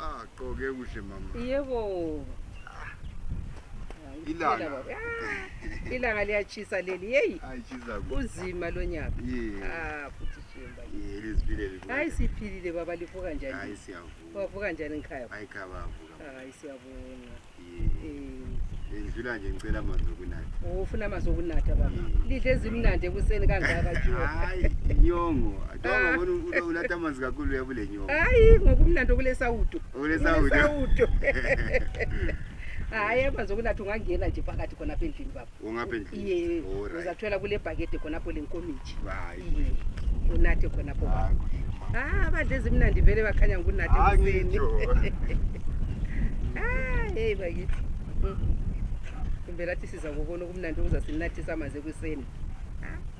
Ah, gqoke kuhle mama. Yebo. Ilanga. Ah, ilanga liyachisa leli. Hey. Ayishisa kuhle. Uzima lo nyaka. Yeah. Ah, futhi shimba. Yeah, lizibile libuka. Hayi siphilile baba livuka njani? Hayi siyavuka. Wavuka njani ngikhaya? Hayi khaya wavuka. Hayi siyabonga. Ngidlula nje ngicela amanzi okunatha. Oh, ufuna amanzi okunatha baba. Lidle ezimnandi ekuseni kangaka nje. Hayi, inyongo. Adonga bona ah. unatha amanzi kakhulu uyabule nyongo. Hayi, ngokumnandi okulesawudo. Okulesawudo. Hayi, amanzi okunatha ungangena nje phakathi khona apha endlini baba. ungapha endlini Iye, Oh, right. uzathola kule bhakede khonapho le nkomitshi Hayi, Iye, unathe khonapho hayi, kuhle, mama. Ah, abadla ezimnandi vele bakhanya ngunathe Hayi, ekuseni ngitsho. Ah, hey bakithi Mm. kumbe lathi siza kokona okumnandi okuzasinathisa amanzi ekuseni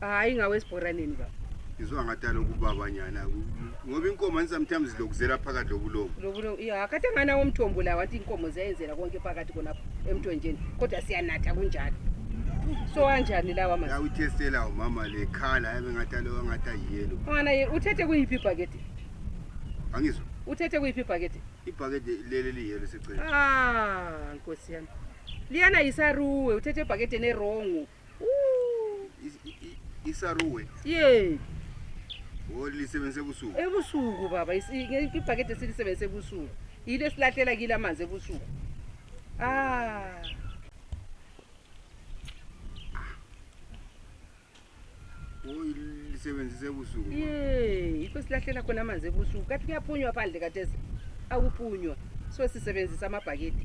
hayi ngawesibhoraneni baba ngizwa ngathi aloku baba nyana ngoba inkomo and sometimes zilokuzela phakathi lobulomo lobulomo ya kade nganawo umthombo la wathi inkomo ziyayenzela konke phakathi konapho emthonjeni kodwa siyanatha kunjalo so anjani lawa manje uyithestela umama le khala yabe ngathi aloku angathi ayiyelo mwana uthethe kuyiphi ibhakede angizwa uthethe kuyiphi ibhakede ibhakede leli liyelo secela ah nkosi yami liyana yisaruwe uthethe ebhakedeni erongo isaruwe ye olisebenzise ebusuku ebusuku baba ibhakede silisebenzise ebusuku yile esilahlela kile amanzi ebusuku ah oyisebenzisa ebusuku ye yikho silahlela khona amanzi ebusuku kathi kuyaphunywa phandle katese akupunywa so sisebenzisa amabhakede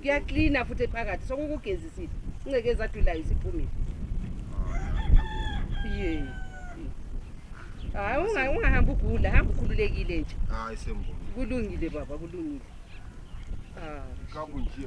kuyaklina futhi ephakathi sokukugezisile incekezi adulayo isiphumile ye hayi unga- ungahambi ugula hamba ukhululekile nje hayi sembona kulungile baba kulungile Ah. kakunje